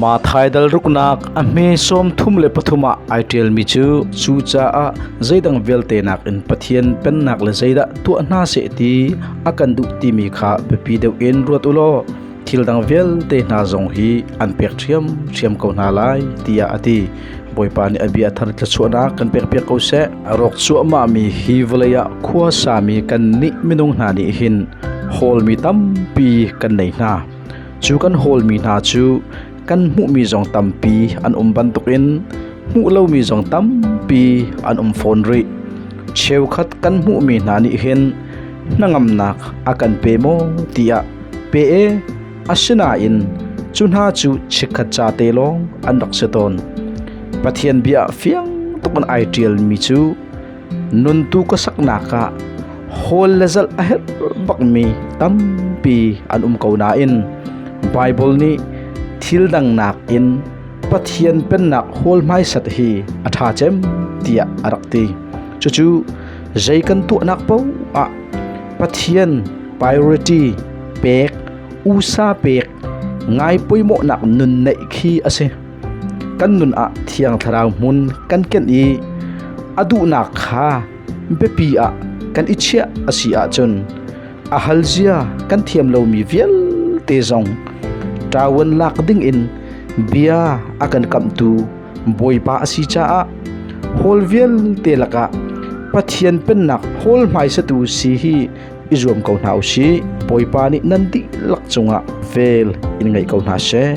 Maa thaidal ruknak a hme sawmthum le pathum ah ai ṭialmi cu cucaah zeidang vialte nakin Pathian Pennak le zeidah tuah hna seh ti a kan duh timi kha biapi deuh in ruat u law thil dang vialte hna zong hi an pek ṭhiamṭhiam ko hna lai tiah a ti. Bawipa nih a bia a thar thluachuahnak kan pekpiak ko seh. A rawk cuahmahmi hi vawlei ah khua sami kannih minung hna nih hin hawlmi tampi kan nei hna. Cu kan hawlmi hna cu kan hmuhmi zong tampi an um bantukin hmuh lomi zong tampi an um fawn rih. Cheukhat kan hmuhmi hna nih hin hnangamnak a kan pe maw tiah pe e Asinain cu hna cu chikkhat ca te lawng an rak si tawn. Pathian bia fiang tuk an ai ṭialmi cu nuntu ka saknak ah hawl le zalh a herh bakmi tampi an um ko nain Baibal nih thil dang nakin Pathian Pennak hawl hmaisat hi a ṭha cem tiah a rak ti. Cucu zei kan tuahnak paoh ah Pathian priority pek, usa pek ngai pawimawhnak nun neih khi a si. Kan nun ah thiang thlarau hmun kan ken i a duhnak kha biapi ah kan i chiah a si ahcun a hal zia kan thiam lomi vialte zong ṭawan lak ding in bia a kan kamhtu Bawipa a si caah hawl vialte lakah Pathian Pennak hawl hmaisatu si hi i zuam ko hna u sih. Bawipa nih nan dihlak cungah vel in ngei ko hna seh.